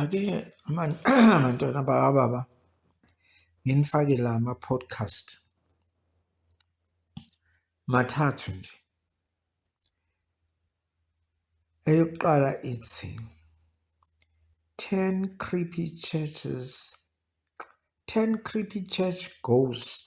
Ake bantwana bakababa nginifake la ama-podcast mathathu nje. Eyokuqala ithi ten creepy churches ten creepy church ghost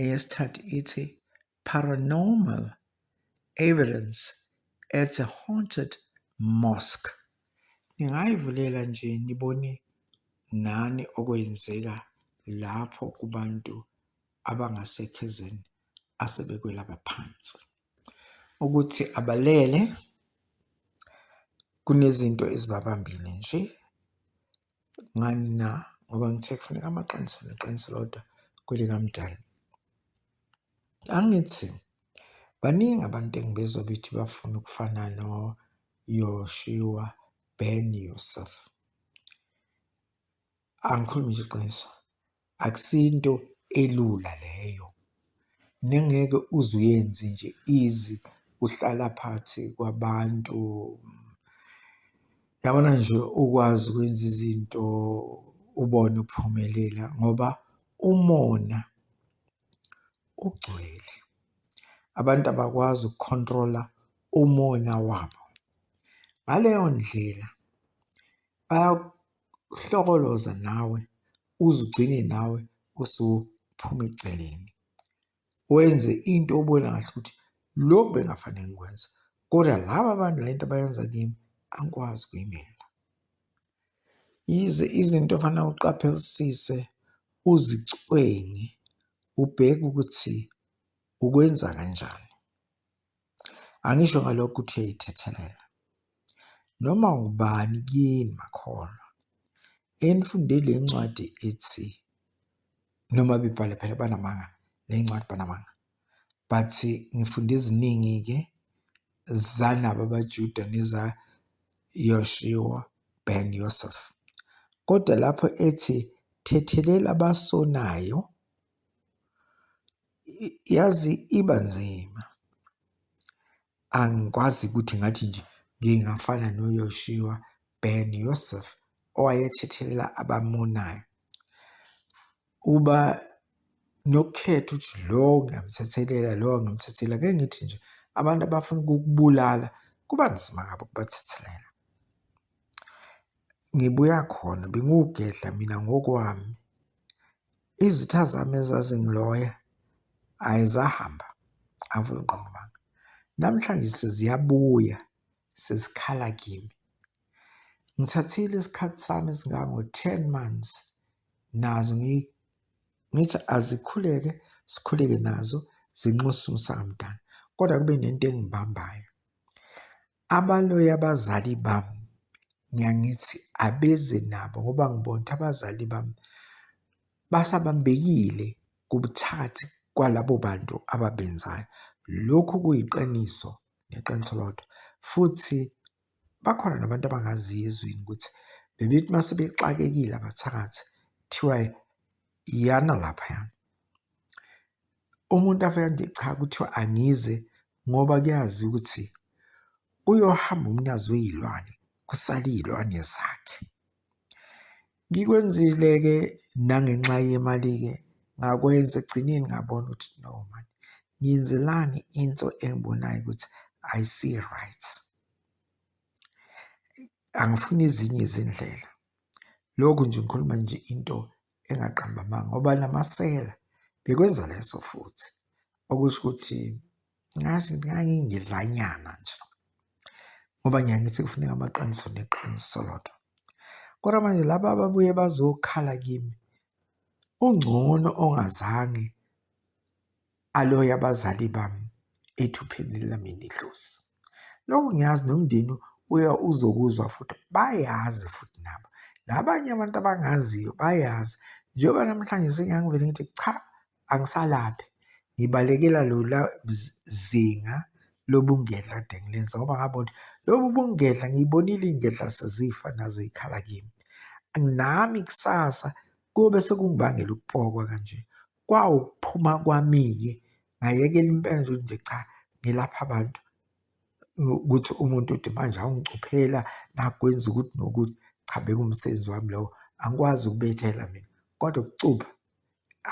Eyesithathu ithi Paranormal Evidence at a Haunted Mosque. Ningayivulela nje nibone nani okwenzeka lapho kubantu abangasekho ezweni asebekwelaba phansi. Ukuthi abalele kunezinto ezibabambile nje Ngani na? Ngoba ngithe kufuneka amaqiniso neqiniso lodwa kwelikamdali. Angithi baningi abantu engibezwa bethi bafuna ukufana noYoshua Ben Yusuf. Angikhulumi nje iqiniso. Akusinto elula leyo nengeke uze uyenze nje easy uhlala phakathi kwabantu. Yabona nje ukwazi ukwenza izinto ubone uphumelela ngoba umona ugcwele. Abantu abakwazi uku-control-a umona wabo. Ngaleyo ndlela uhlokoloza nawe uze ugcine nawe usuphuma eceleni wenze into obona kahle ukuthi lokhu bengafanele ngikwenza kodwa laba abantu le nto abayenza kimi angikwazi ukuyimela yize izinto ofanele uqaphelisise uzicwengi ubheke ukuthi ukwenza kanjani Angisho ngalokho ukuthi uyayithethelela. Noma ubani kini makholwa enifunde le ncwadi ethi noma bebhale phela banamanga le ncwadi banamanga but ngifunde eziningi-ke zanabo abajuda nezayoshiwa ben yosef kodwa lapho ethi thethelela abasonayo Yazi iba nzima. Angikwazi ukuthi ngathi nje ngingafana noYoshiwa Ben Yosef owayethethelela abamonayo. Uba nokukhetha ukuthi lo ngiyamthethelela lo angimthethelela. Ngeke ngithi nje abantu abafuna ukukubulala kuba nzima ngabo ukubathethelela. Ngibuya khona bengiwugedla mina ngokwami. Izitha zami ezazingiloya ayi zahamba avula uNqongqobanga. Namhlanje seziyabuya sezikhala kimi. Ngithathile isikhathi sami esingango-ten months nazo ngithi azikhuleke sikhuleke nazo zinxuse umsamo mdala kodwa kube nento engibambayo. Abaloyi abazali bami ngiyangithi abeze nabo ngoba ngibona ukuthi abazali bami basabambekile kubuthathi kwalabo bantu ababenzayo. Lokhu kuyiqiniso neqiniso lodwa futhi bakhona nabantu abangaziyo ezweni ukuthi bebethi uma sebexakekile abathakathi kuthiwa iyana laphayana. Umuntu afika nje cha kuthiwa angize ngoba kuyazi ukuthi uyohamba umnikazi weyilwane kusale iyilwane zakhe. Ngikwenzile-ke nangenxa yemali-ke ngakwenza ekugcineni ngabona ukuthi no mani ngenzelani into engibonayo ukuthi ayisi-right. Angifuni ezinye izindlela. Lokhu nje ngikhuluma nje into engaqamba amanga ngoba namasela bekwenza leso futhi. Okusho ukuthi ngathi ngangingedlanyana nje ngoba ngiyaye ngithi kufuneka amaqiniso neqiniso lodwa. Kodwa manje laba ababuye bazokhala kimi ungcono ongazange. Alo yabazali bami ethupheleni lami nedlozi. Lokhu ngiyazi nomndeni uya uzokuzwa futhi bayazi futhi nabo. Nabanye abantu abangaziyo bayazi njengoba namhlanje sengiyangivele ngithi cha angisalaphi ngibalekela lola zinga lobungedla kade ngilenza ngoba ngabona ukuthi lobu bungedla ngiyibonile iy'ngedla sezifa nazo ikhala kimi nami kusasa kube sekungibangela ukupokwa kanje kwawukuphuma kwami-ke ngayekela impela nje ukuthi nje cha ngilapha abantu ukuthi umuntu uthi manje awungicuphela nakwenza ukuthi nokuthi cha bekumsebenzi wami lowo angikwazi ukubethela mina kodwa ukucupha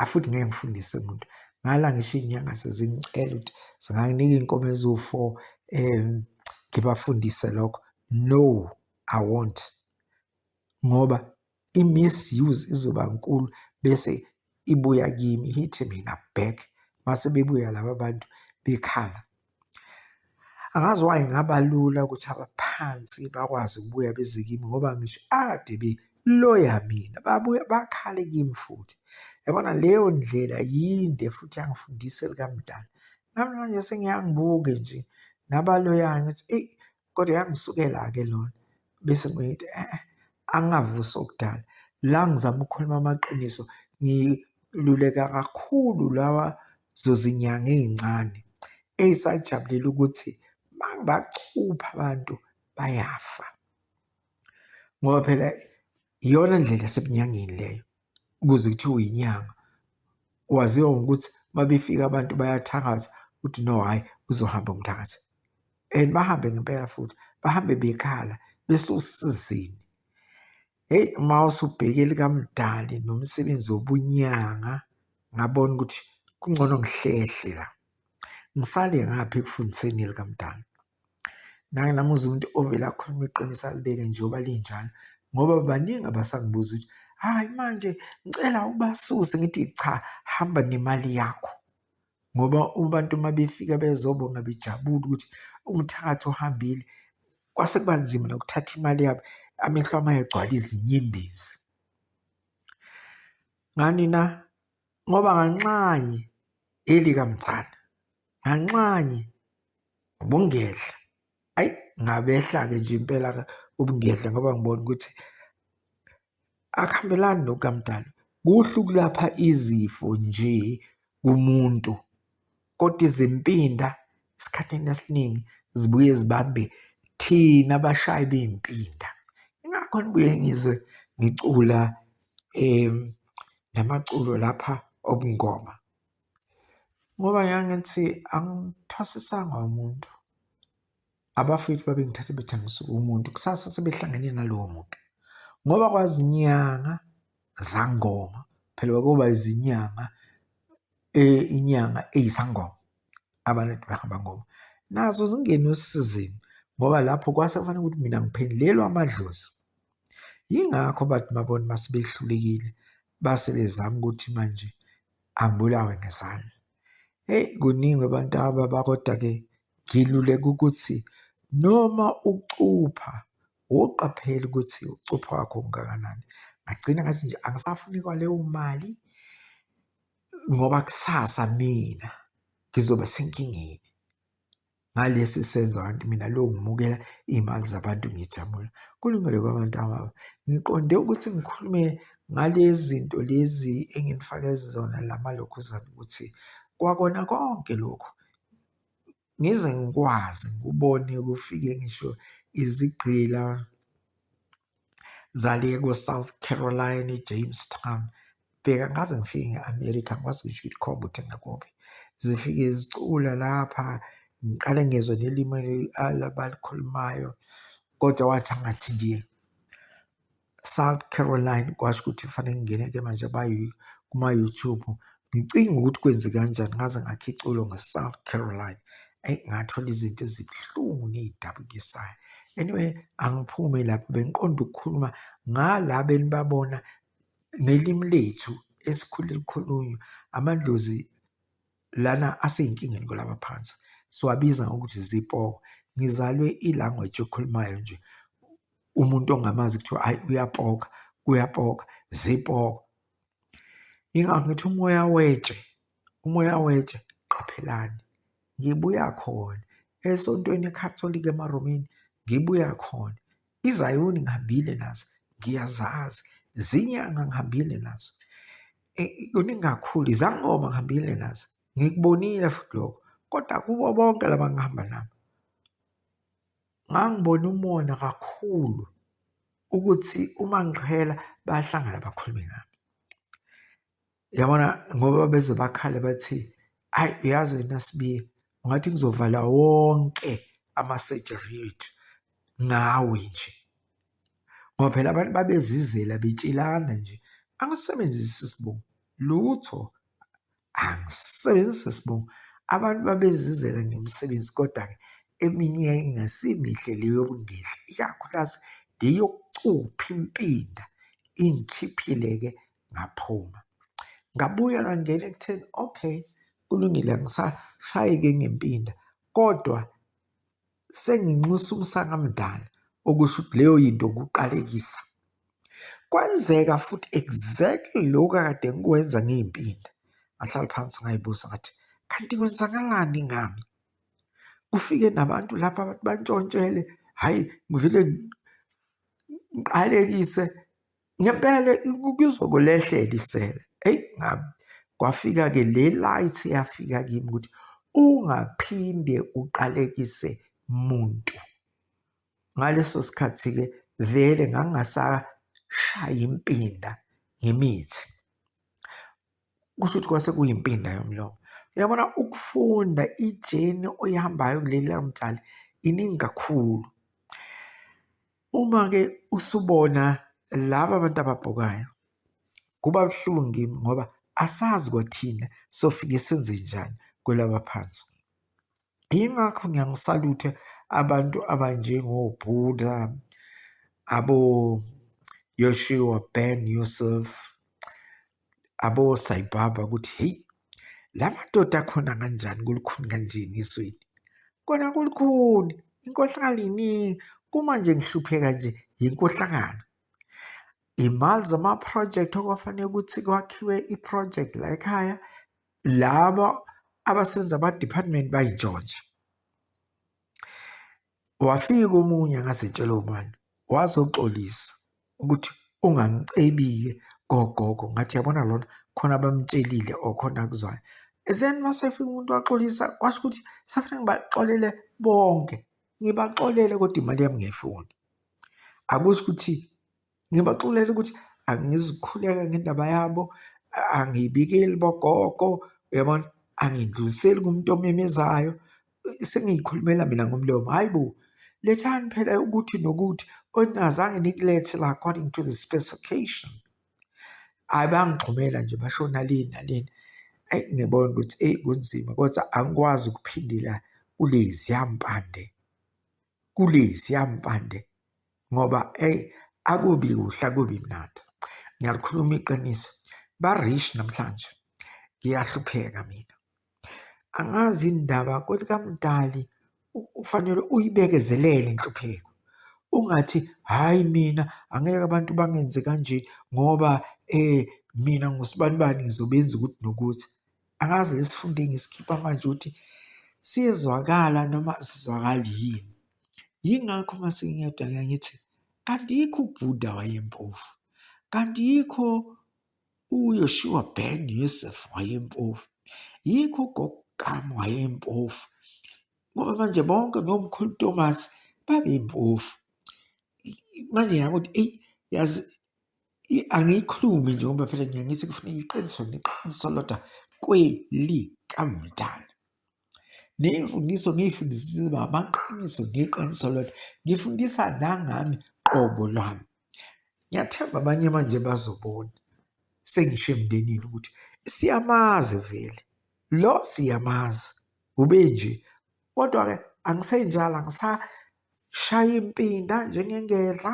afuthi ngeke ngifundise muntu ngala ngisho iy'nyanga sezingicela ukuthi zinganginika iy'nkomo eziwu-four um ngibafundise lokho no i won't ngoba i-misuse izoba nkulu bese ibuya kimi ithi mina back mase bebuya laba bantu bekhala angazi why ngaba lula ukuthi abaphansi bakwazi ukubuya beze kimi ngoba ngisho ade be loya mina babuye bakhale kimi futhi yabona leyo ndlela yinde futhi yangifundisa elikamdala namhlanje sengiyangibuke nje nabaloyayo ngithi eyi Kodwa yangisukela-ke lona bese ngithi eh, eh angavusi okudala la ngizama ukukhuluma amaqiniso ngiluleka kakhulu lawa zozinyanga ezincane ezisajabulela ukuthi bangacupha abantu bayafa ngoba phela iyona ndlela sebunyangeni leyo kuze kuthiwe uyinyanga waziwa ngokuthi mabefika abantu bayathakaza ukuthi no hhayi uzohamba umthakathi and bahambe ngempela futhi bahambe bekhala besosizini heyi uma usubheke likamdali nomsebenzi wobunyanga ngabona ukuthi kungcono ngihlehle la ngisale ngaphi ekufundiseni likamdali Nami uze umuntu ovele akhulume iqiniso alibeke njengoba linjalo ngoba baningi abasangibuza ukuthi hhayi manje ngicela ubasuse ngithi cha hamba nemali yakho ngoba abantu uma befika bezobonga bejabule ukuthi umthakathi ohambile kwase kuba nzima nokuthatha imali yabo amehlo uma egcwala izinyembezi. Ngani na? Ngoba nganxanye elikamthana nganxanye ubungedla ayi ngabehla-ke nje impela ubungedla ngoba ngibona ukuthi akuhambelani nokukamdali kuhle ukulapha izifo nje kumuntu. kodwa izimpinda esikhathini esiningi zibuye zibambe thina abashayi bey'mpinda ingakho nibuye ngizwe ngicula um namaculo lapha obungoma ngoba ngangithi angithwasisanga umuntu abafowethu babengithathe bethi angisuke umuntu kusasa sebehlangene nalowo muntu ngoba kwazinyanga zangoma phela kwakuba izinyanga inyanga eyisangoma abantu behamba ngoba nazo zingene osizini ngoba lapho kwase kufanele ukuthi mina ngiphendulelwe amadlozi. Yingakho bathi babona uma sebehlulekile base bezama ukuthi manje angibulawe ngezandla. Eyi kuningi abantu ababa kodwa-ke ngiluleka ukuthi noma ucupha woqaphela ukuthi ucupha wakho ungakanani. Ngagcina ngathi nje angisafuni kwaleyo mali. ngoba kusasa mina ngizoba senkingeni ngalesi senzo kanti mina lo ngimukela iy'mali zabantu ngijabula kulungele kwabantu ababa ngiqonde ukuthi ngikhulume ngalezi zinto lezi enginifake zona la malokhuzana ukuthi kwakona konke lokhu ngize ngikwazi ngikubone kufike ngisho izigqila zale ko-south carolina ejamestown bheka ngaze ngifike nge-amerika ngikwazi ngisho ukuthi khomba ukuthi ngakuphi zifike zicula lapha ngiqale ngezwe nelimi abalikhulumayo kodwa wathi angathi ndiye South Caroline kwasho ukuthi kufanele ngingene-ke manje kuma-YouTube ngicinga ukuthi kwenze kanjani ngaze ngakha iculo nge-South Caroline eyi ngathola izinto ezibuhlungu ney'dabukisayo anyway angiphume lapho bengiqonda ukukhuluma ngala benibabona ngelimi lethu esikhule likhulunywa amadlozi lana asiyinkingeni kulaba phansi siwabiza ngokuthi zipoho ngizalwe i-language yokhulumayo nje umuntu ongamazi kuthiwa ayi uyapoka uyapoka zipoka ingakho ngithi umoya wetshe umoya wetshe qaphelani ngibuya khona esontweni eCatholic emaRomini ngibuya khona izayoni ngihambile nazo ngiyazazi zinyanga ngihambile nazo e, kuningi kakhulu izangoma ngihambile nazo ngikubonile futhi lokho kodwa kubo bonke laba ngihamba nabo ngangibona umona kakhulu ukuthi uma ngiqhela bayahlangana bakhulume ngami Yabona ngoba beze bakhale bathi ayi uyazi wena Sibiya ungathi kuzovala wonke ama-surgery ethu ngawe nje ngoba phela abantu babezizela betshelana nje angisebenzisi isibongo lutho angisebenzisi isibongo abantu babezizela ngemisebenzi kodwa-ke eminye yayingasiimihle le yokungehla ikakhulukazi le yokucupha impinda ingikhiphile-ke ngaphuma. Ngabuya ngangena ekutheni okay kulungile angisashayeki ngempinda kodwa senginxusa umsakamdala okusho ukuthi leyo yinto ukuqalekisa. Kwenzeka futhi exactly lokhu akade ngikwenza ngiy'mpinda. Ngahlala phansi ngay'buza ngathi kanti kwenzakalani ngami? Kufike nabantu lapha bathi bantshontshele, hhayi ngivele ngiqalekise ngempela kuzokulehlela isele eyi ngabe kwafika-ke le light yafika kimi ukuthi ungaphinde uqalekise muntu ngaleso sikhathi-ke vele ngangingasashaya impinda ngemithi kusho ukuthi kwase kuyimpinda yomlomo uyabona ukufunda ijeni oyihambayo kuleli lamtshali iningi kakhulu Uma-ke usubona laba abantu ababhukayo kuba buhlungu kimi ngoba asazi kwathina sofike senze njani kwelaba phansi. Yingakho ngiyangisaluthe abantu abanjengoBuddha, abo-Yoshua Ben Yusuf, abosayibhaba ukuthi heyi la madoda akhona kanjani kulukhuni kanjeni ezweni kona kulukhuni inkohlakalo iningi kuma nje ngihlupheka nje yinkohlakalo imali zama-project okwafanele ukuthi kwakhiwe i-project la ekhaya laba abasebenza ama-department bayintshontsha Wafika omunye angazitshela ubani wazoxolisa ukuthi ungangicebile kogogo ngathi yabona lona khona abamtshelile or khona akuzwayo then masefika umuntu waxolisa kwasho ukuthi safanele ngibaxolele bonke ngibaxolele kodwa imali yami ngiyayifuna akusho ukuthi Ngibaxolela ukuthi angizukhuleka ngendaba yabo, angiyibikeli bogogo, uyabona? Angindluliseli kumuntu omemezayo, sengiyikhulumela mina ngomlomo. Hhayi bo, lethani phela ukuthi nokuthi oningazange nikulethe la according to the specification. Hhayi bangixhumela nje basho nalini nalini. Eyi ngibona ukuthi eyi kunzima kodwa angikwazi ukuphindela kuleziya mpande kuleziya mpande ngoba eyi akubi kuhle akubi mnandi ngiyalikhuluma iqiniso ba-rich namhlanje ngiyahlupheka mina angazi indaba kwelikamdali ufanele uyibekezelele inhlupheko ungathi hhayi mina angeke abantu bangenze kanje ngoba um mina ngusibanibani ngizobenza ukuthi nokuthi angazi ngesifundo engisikhipha manje ukuthi siyezwakala noma sizwakali yini. Yingakho uma sengiyedwa ngike ngithi, kanti yikho uBuddha wayempofu, kanti yikho uYoshua ben Yosef wayempofu, yikho uGogam wayempofu, ngoba manje bonke nomkhulu Thomas babeyimpofu. Manje ngiyakuthi eyi yazi Angiyikhulumi nje ngoba phela ngiye ngithi kufuneka iqiniso neqiniso lodwa kwelikamdala. Ney'mfundiso ngiy'fundisile uba amaqiniso ngeqiniso lodwa. Ngifundisa nangami qobo lwami. Ngiyathemba abanye manje bazobona sengisho emndenini ukuthi siyamazi vele lo siyamazi ube nje kodwa-ke angisenjalo Shaya impinda njengengedla,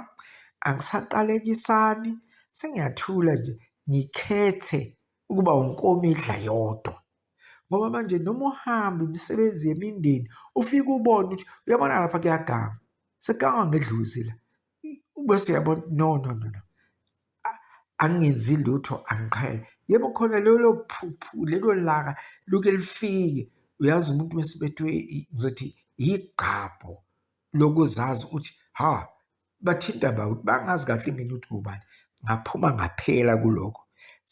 angisaqalekisani, sengiyathula nje ngikhethe ukuba unkomidla yodwa ngoba manje noma uhamba imisebenzi yemindeni ufike ubone ukuthi uyabona lapha kuyaganga sekugangwa ngedluzi la bese uyabona no no no no angenzi lutho angiqhele yebo khona lelo phuphu lelo laka luke lifike uyazi umuntu mesibethwe ngizothi yigqabho lokuzazi ukuthi ha bathinta ba ukuthi bangazi kahle mina ukuthi ngubani ngaphuma ngaphela kuloko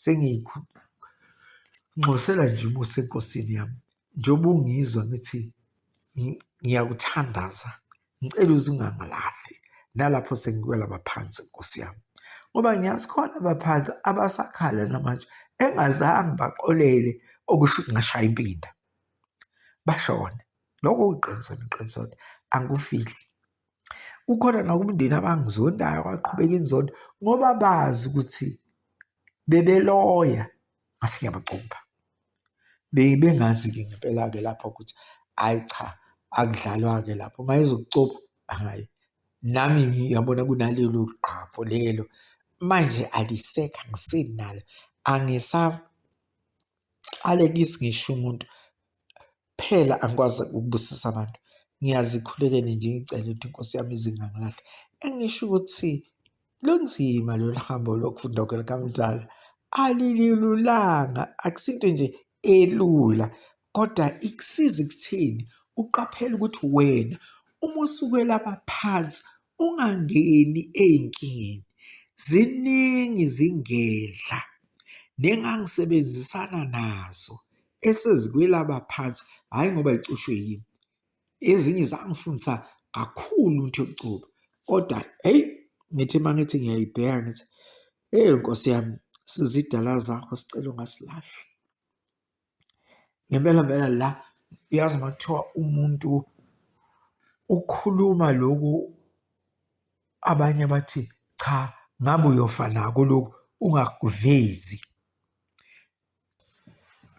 sengikunxosela nje umusa enkosini yami njengoba ungizwa ngithi ngiyakuthandaza ngicela uze ungangilahli nalapho sengiwela baphansi nkosi yami ngoba ngiyazi khona abaphansi abasakhala namanje engazange baxolele okusho ngashaya impinda bashone lokho kuqiniso neqiniso angikufihli kukhona nakumndeni abangizondayo kwaqhubeka inzondo ngoba bazi ukuthi bebeloya ngasiyabacupha Bengazi-ke ngempela-ke lapho ukuthi hhayi cha akudlalwa-ke lapho. Uma ezokucupha hhayi, nami ngiyabona kunalelo gqaphu lelo. Manje alisekho, angisenalo, angisaqalekisi ngisho umuntu. Phela angikwazi ukubusisa abantu. Ngiyazikhulekela nje ngicele ukuthi iNkosi yami izingangilahle. Engisho ukuthi lunzima lolu hambo lokufunda kwelikamdala. Alilulanga, akusinto nje elula kodwa ikusiza ekutheni uqaphele ukuthi wena uma usuke lapha phansi Ungangeni ey'nkingeni, ziningi izingedla nengangisebenzisana nazo esezikwelaba phansi, hhayi ngoba zicushwe yimi. Ezinye zangifundisa kakhulu ukuthi yokucuba, kodwa eyi ngithi uma ngithi ngiyayibheka ngithi, ewu Nkosi yami, sizidala zakho sicela ungasilahli. Ngempela mpela la uyazi uma kuthiwa umuntu ukhuluma loku abanye bathi cha ngabe uyofa nako loku ungakuvezi.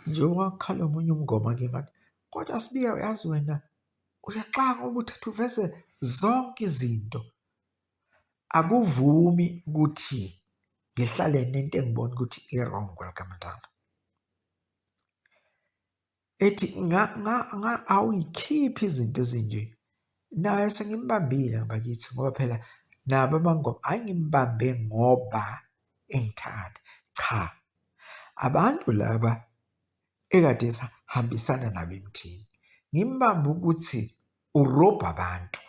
Njengoba kukhala omunye umngoma ke manje kodwa Sibiya uyazi wena uyaxaka uma uthi uveze zonke izinto. akuvumi ukuthi ngihlale nento engibona ukuthi i-wrong kwelikaMntwana. Ethi awuy'khiphi izinto ezinje. Naye sengimbambile bakithi ngoba phela nabo abangoma hhayi ngimbambe ngoba engithanda, cha. Abantu laba ekade sihambisana nabo emthini, ngimbambe ukuthi urobha abantu,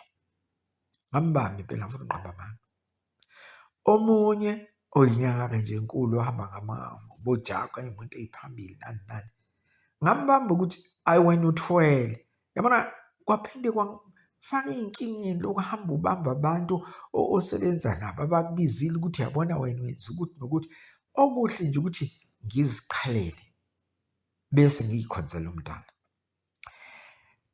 ngambamba impela ngomnqambi amanga. Omunye oyinyanga-ke nje enkulu ohamba ngamamu bojaku ayimoto eyiphambili nani nani, ngambamba ukuthi ayi wena uthwele yabona kwaphinde kwangifaka ey'nkingeni lokhu hamba ubamba abantu osebenza nabo abakubizile ukuthi yabona wena wenza ukuthi nokuthi. Okuhle nje ukuthi ngiziqhelele bese ngiyikhonzela umdali.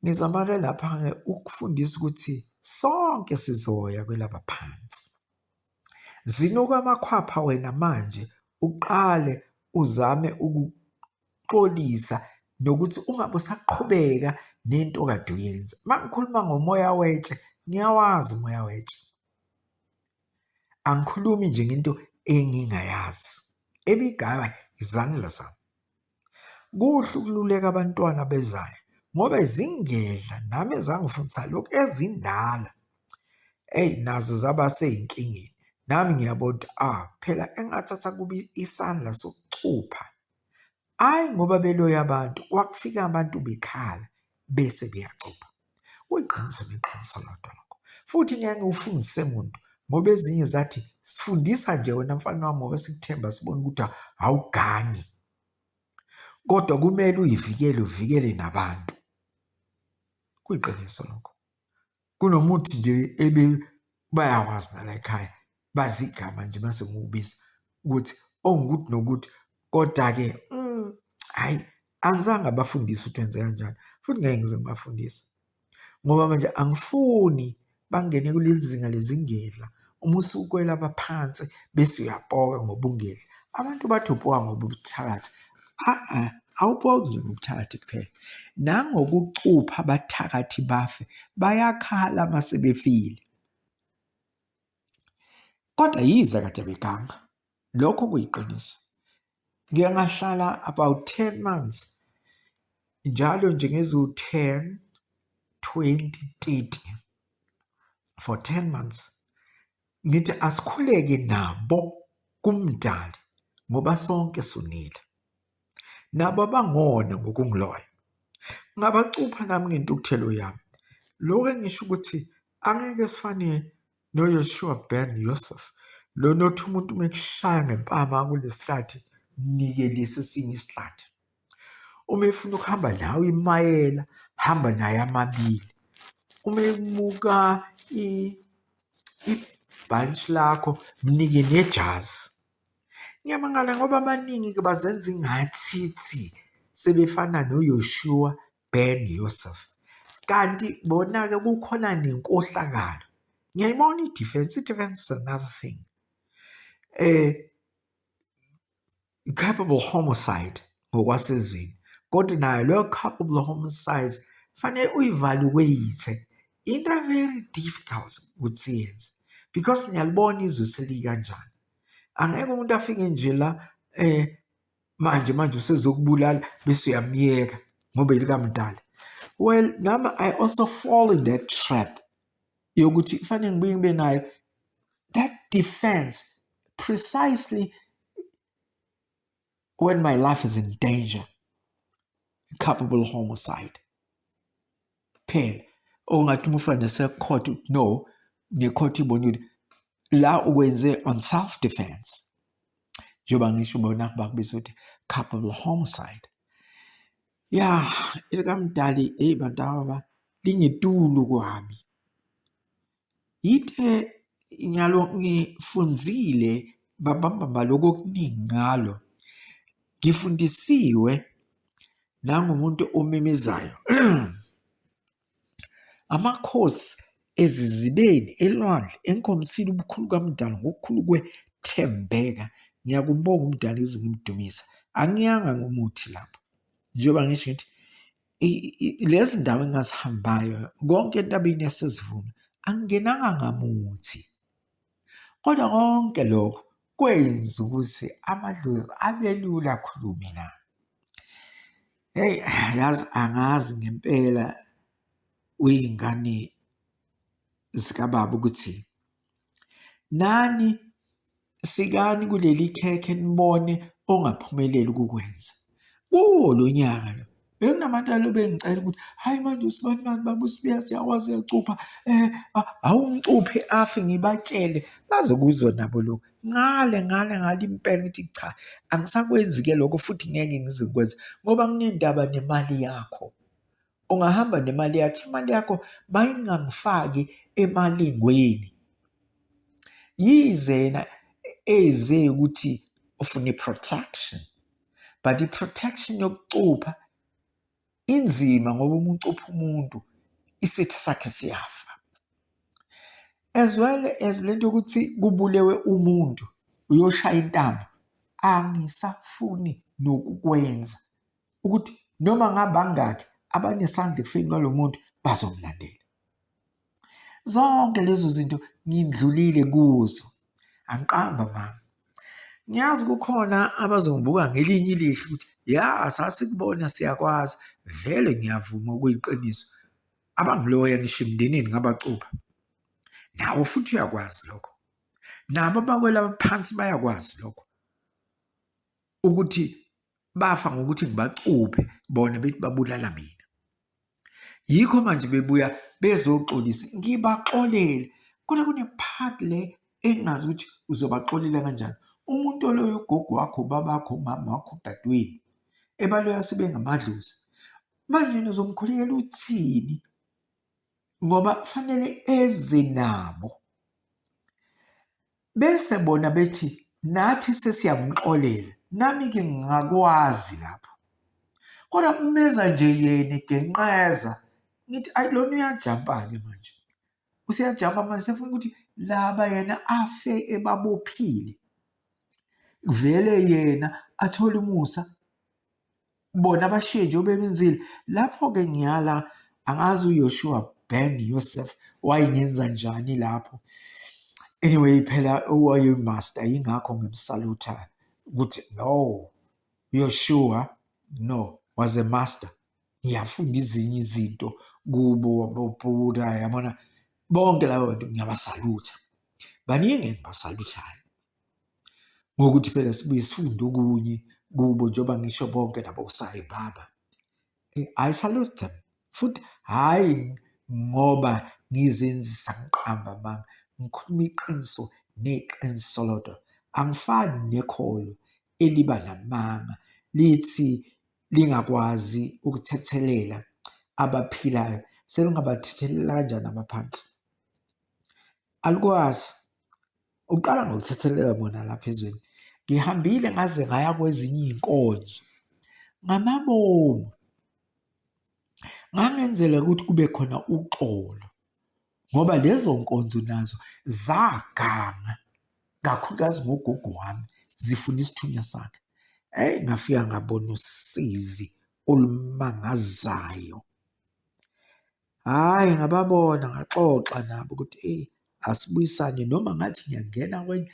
Ngizama-ke lapha-ke ukufundisa ukuthi sonke sizoya kwelaba phansi. Zinuka amakhwapha wena manje uqale uzame ukuxolisa nokuthi ungabe usaqhubeka nento kade uyenza. Uma ngikhuluma ngomoya wetshe, ngiyawazi umoya wetshe. Angikhulumi nje ngento engingayazi. Ebigaba izandla zami. Kuhle ukululeka abantwana abezayo ngoba zingedla nami ezangifundisa lokhu ezindala eyi nazo zaba sey'nkingeni. Nami ngiyabona ukuthi ah phela engathatha kubi isandla sokucupha, hhayi ngoba beloya abantu kwakufika abantu bekhala bese beyacupha. Kuyiqiniso neqiniso lodwa lokho. Futhi ngeke ngikufundise muntu ngoba ezinye zathi sifundisa nje wena mfana wami ngoba sikuthemba sibona ukuthi awugangi. Kodwa kumele uyivikele uvikele nabantu. Kuyiqiniso lokho. Kunomuthi nje ebe bayawazi nala ekhaya bazi igama nje mase ngiwubiza ukuthi ongukuthi nokuthi kodwa-ke mm, hhayi mm, angizange abafundise ukuthi wenze kanjani futhi ngeke ngize ngibafundise ngoba manje angifuni bangene kuleli zinga lezingedla uma usukwela baphansi bese uyapoka ngobungedla abantu bathi upoka ngobuthakathi a-a awupoki nje ngobuthakathi kuphela nangokucupha abathakathi bafe bayakhala uma sebefile Kodwa yize kade beganga, lokho kuyiqiniso. Ngike ngahlala about ten months, njalo nje ngeziwu-ten, twenty, thirty for ten months. Ngithi asikhuleke nabo kuMdali ngoba sonke sonile. nabo abangona ngokungiloya ngabacupha nami ngentukuthelo yami lokho engisho ukuthi angeke sifane noYoshua Ben Yosef lona othi umuntu uma ekushaya ngempama kulesihlathi nikelise esinye isihlathi uma efuna ukuhamba nawe imayela hamba naye amabili uma emuka ibhantshi lakho mnike nejazi Ngiyamangala ngoba abaningi-ke bazenza ingathithi sebefana noYoshua Ben Yusuf kanti bona-ke kukhona nenkohlakalo. Ngiyayibona i-defence, i-defence is another thing. Capable homicide ngokwasezweni kodwa nayo leyo cup of the home size fanele uyivaluweyithe into very difficult ukuthi yenze because ngiyalibona izwe selikanjani angeke umuntu afike nje la eh manje manje usezokubulala bese uyamyeka ngoba ilikamdala well nami i also fall in that trap yokuthi kufanele ngibuye ngibe nayo that defense precisely when my life is in danger culpable homicide phela ongathi oh, umfana secourt no ngecourt ibona ukuthi la ukwenze on self defense njengoba ngisho ubona bakubiza ukuthi culpable homicide ya elikamdali eyi bantu ababa lingetulu kwami Yithe ngalo ngifunzile bambambamba lokho okuningi ngalo ngifundisiwe nangumuntu omemezayo amakhosi ezizibeni elwandle enkomsini ubukhulu kamdala ngokukhulu kwethembeka ngiyakumbonga umdala ize ngimdumisa angiyanga ngomuthi lapho njengoba ngisho ngithi lezi ndawo engazihambayo konke entabeni yasezivuna angingenanga ngamuthi kodwa konke lokho kwenza ukuthi amadlozi abelula akhulume na heyi yazi angazi ngempela uyingane zikababa ukuthi Nani sikani kuleli khekhe nibone ongaphumeleli ukukwenza. Kuwo lo nyaka lo bekunabantu alo bengicela ukuthi hhayi manje usibani mani baba usibiya siyakwazi uyacupha um awungicuphe afe ngibatshele bazokuzwa nabo lokhu ngale ngale ngale impela ukuthi cha angisakwenzi-ke lokho futhi ngeke ngizikwenza ngoba kunendaba nemali yakho. Ungahamba nemali yakho, imali yakho mayingangifaki emalingweni. Yize yena eze ukuthi ufuna i-protection but i-protection yokucupha inzima ngoba uma ucupha umuntu isitha sakhe siyafa as well as le nto yokuthi kubulewe umuntu uyoshaya intambo angisafuni nokukwenza ukuthi noma ngabangaki abanesandla ekufeni kwalo muntu bazomlandela zonke lezo zinto ngindlulile kuzo angiqamba mama ngiyazi kukhona abazongibuka ngelinye ilihlo ukuthi ya sasikubona siyakwazi vele ngiyavuma okuyiqiniso abangiloya ngisho emndenini ngabacupha nawo futhi uyakwazi lokho nabo abakwela phansi bayakwazi lokho ukuthi bafa ngokuthi ngibacuphe bona bethi babulala mina yikho manje bebuya bezoxolisa ngibaxolele kodwa kune-part le engazi ukuthi uzobaxolela kanjani umuntu oloyo ugogo wakho babakho umama wakho udadewenu ebaloya sebengamadlozi manje nizomkhulekela uthini ngoba kufanele eze nabo bese bona bethi nathi sesiyamxolela nami-ke ngingakwazi lapho kodwa umeza nje yena egenqeza ngithi ayi lona uyajampa-ke manje useyajampa manje sefuna ukuthi laba yena afe ebabophile vele yena athole umusa bona bashiye nje obebenzile lapho-ke ngiyala angazi uyoshua ben yosef wayengenza njani lapho anyway phela owayeyimaster yingakho ngimsalutha ukuthi no yoshua no was a master ngiyafunda izinye izinto kubo bobhuda yabona bonke laba bantu ngiyabasalutha baningi engibasaluthayo ngokuthi phela sibuye sifunde okunye kubo njengoba ngisho bonke labo osayi baba eh, I salute them futhi hhayi ngoba ngizenzisa ngiqamba amanga ngikhuluma iqiniso neqiniso lodwa angifani nekholo eliba namanga lithi lingakwazi ukuthethelela abaphilayo selingabathethelela kanjani abaphansi alikwazi Uqala ngokuthethelela bona lapha ezweni. Ngihambile ngaze ngaya kwezinye iy'nkonzo ngamabomu. Ngangenzela ukuthi kube khona uxolo ngoba lezo nkonzo nazo zaganga kakhulukazi ngogogo wami zifuna isithunywa sakhe. Eyi ngafika ngabona usizi olumangazayo. Hhayi ngababona ngaxoxa nabo ukuthi eyi asibuyisane noma ngathi ngiyangena kwenye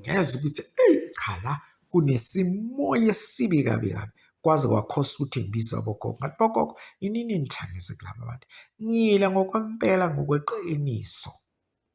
ngezwa ukuthi eyi cha la kunesimoya esibi kabi kabi kwaze kwakhosa ukuthi ngibize abogogo ngathi bogogo yini nini nithangise kulaba bantu ngile ngokwempela ngokweqiniso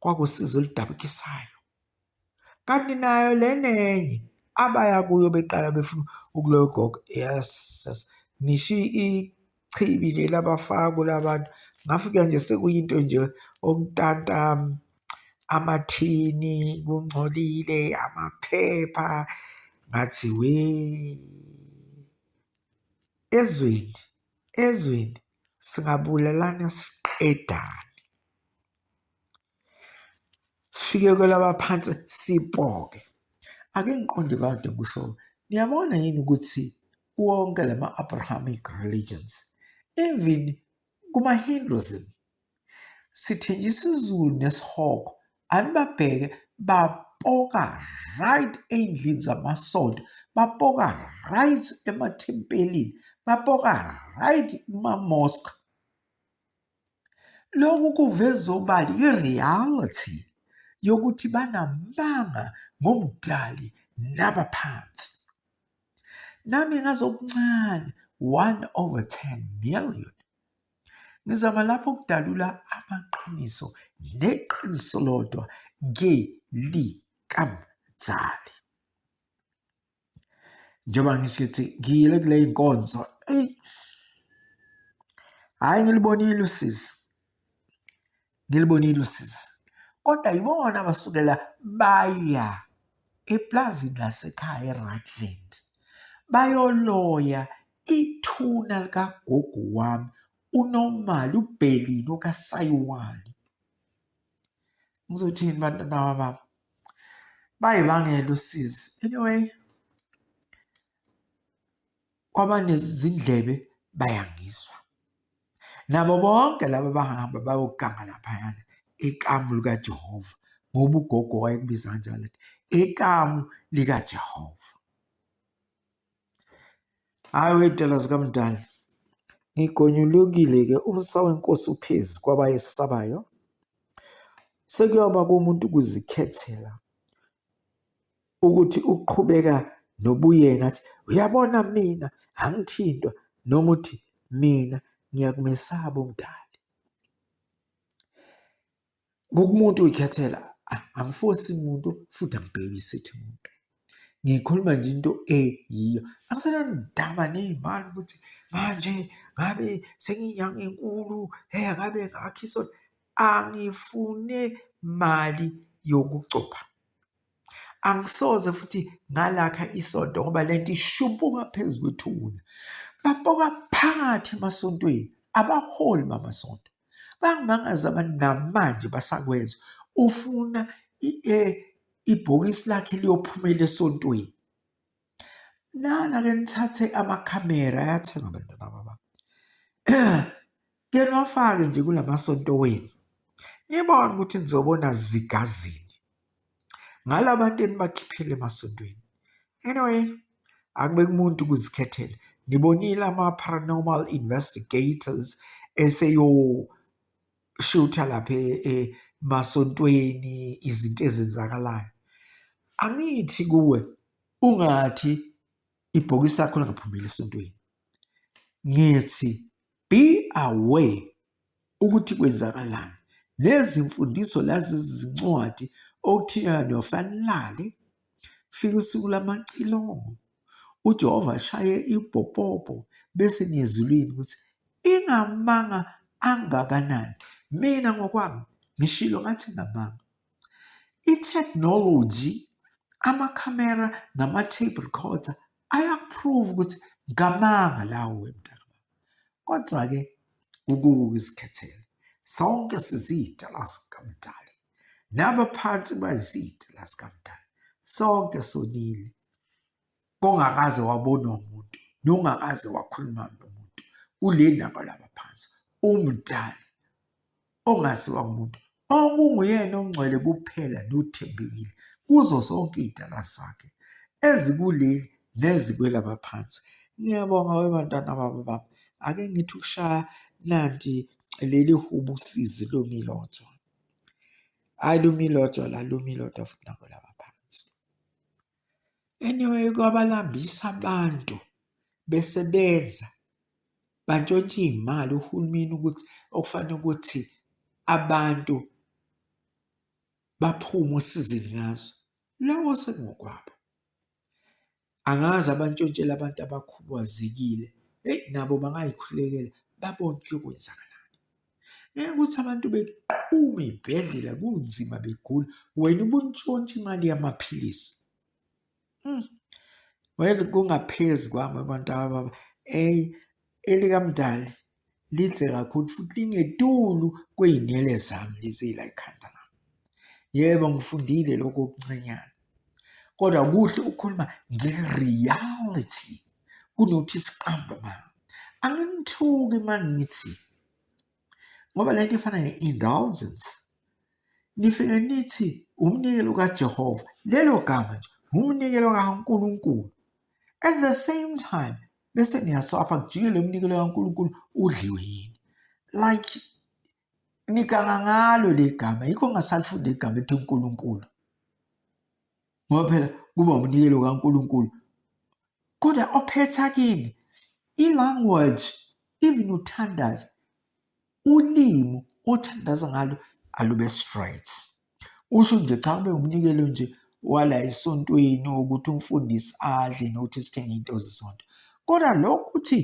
kwakusizo oludabukisayo. Kanti nayo lena enye abaya kuyo beqala befuna ukuloya ugogo yes ngisho ichibi leli abafaka kula bantu ngafika nje sekuyinto nje omtanta amathini kungcolile amaphepha ngathi we ezweni ezweni singabulalana siqedane sifike kwelaba phansi sipoke ake ngiqonde kade kusho niyabona yini ukuthi wonke lama Abrahamic religions even kuma Hinduism sithenje isizulu nesihogo anibabheke bapoka right ey'ndlini zamasonto bapoka right emathempelini bapoka right kuma-mosque lokhu kuveza obala i-reality yokuthi banamanga ngomdali nabaphansi nami ngazokuncane 1 over 10 million Ngizama lapho ukudalula amaqiniso neqiniso lodwa ngelikamzali. Njengoba ngisho ukuthi ngiyile kule nkonzo, eyi hhayi ngilubonile usizi. ngilibonile usizi kodwa yibona abasukela baya eplazini lasekhaya eRutland bayoloya ithuna likagogo wami unomali ubhelini okasayiwani ngizothini bantwana wababa bayibangela usizi anyway kwabanezindlebe bayangizwa. Nabo bonke laba bahamba bayoganga laphayana ekamu likaJehova ngoba ugogo wayekubiza kanjalo athi ekamu likaJehova. Hhayi wey'tela zikamdali ngigonyulukile-ke umsa wenkosi uphezu kwabayesabayo sekuyoba komuntu ukuzikhethela ukuthi uqhubeka nobuyena athi uyabona mina angithintwa noma uthi mina ngiyakumesaba umdali kukumuntu uyikhethela angifosi muntu futhi angibhebisithi muntu ngikhuluma nje into eyiyo angisenandaba ney'mali ukuthi manje ngabe senginyanga enkulu he ngabe ngakhiso angifune mali yokucopha angisoze futhi ngalakha isonto ngoba lento ishumpuka phezu kwethuna bapoka phakathi emasontweni abaholi bamasonto bangimangaza abantu namanje basakwenza ufuna e, ibhokisi lakhe liyophumela esontweni Nana ke nithathe amakhamera ayathenga abantwana baba. Ke niwafake nje kulamasonto wenu. Nibone ukuthi nizobona zigazini. Ngalabantu enibakhiphile emasontweni. Anyway, akube kumuntu ukuzikhethela. Nibonile ama paranormal investigators eseyo shutha lapha e, e, emasontweni izinto ezenzakalayo angithi kuwe ungathi ibhokisi lakho lingaphumeli esontweni ngithi be aware ukuthi kwenzakalani nezimfundiso lazi zincwadi okuthiwa niyofanelale Kufika usuku lamacilongo uJehova ashaye ibhopobho bese niyezulwini ukuthi ingamanga angakanani mina ngokwami ngishilo ngathi ngamanga i-technology amakhamera nama-tape recorder ayaprove ukuthi ngamanga lawo wemntaka kodwa-ke ukukuka izikhethele sonke siziyidala zikamdali nabaphansi bayiziyidala zikamdali sonke sonile kongakaze wabonwa umuntu nongakaze wakhuluma nomuntu kule ndaba labaphansi umdali ongaziwa ngumuntu okunguyena ongcwele kuphela nothembekile kuzo zonke iy'dala zakhe ezikuleli nezikwelabaphansi ngiyabonga webantwana babo baba ake ngithi ukushaya nanti leli hubu usizi lomilotshwa hhayi lomilotshwa la lomilotshwa futhi nabo laba phansi Anyway kwabalambisa abantu besebenza bantshontsha iy'mali uhulumeni ukuthi okufanele ukuthi abantu baphume osizini ngazo, lowo sekungokwabo. Angazi abantshontshela abantu abakhubazekile, eyi nabo bangayikhulekela babone ukuthi kuyokwenzakala. Ngeke ukuthi abantu beqhume iy'bhedlela kunzima begula, wena ubuntshontsha imali yamaphilisi. Mm. Well kungaphezu kwami abantu ababa eyi elikamdali lidze kakhulu futhi lingetulu kwey'nwele zami lezi la ekhanda lami. Yebo ngifundile lokho okuncanyana. kodwa kuhle ukukhuluma nge-reality kunokuthi siqambe amanga anginithuki uma ngithi ngoba le nto efana ne-indulgence nifike nithi umnikelo kajehova lelo gama nje ngumnikelo kankulunkulu at the same time bese niyaswapha kujike lo mnikelo kankulunkulu udliwe yini like ngiganga ngalo legama yikho ngasalifunde igama ethi uNkulunkulu ngoba phela kuba umnikelo kaNkulunkulu kodwa ophetha kini i-language even uthandaza ulimi othandaza ngalo alube straight usho nje cha ube umnikelo nje wala esontweni ukuthi umfundisi adle nokuthi sithenge into zesonto kodwa lokho ukuthi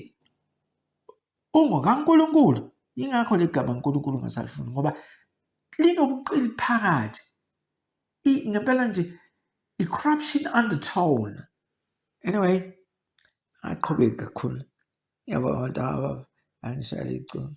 ungokaNkulunkulu yingakho legama uNkulunkulu ngasalifuni ngoba linobuqili phakathi ngempela nje i-corruption undertone anyway aqhubeki kakhulu yabo abantu aba angishayela iculo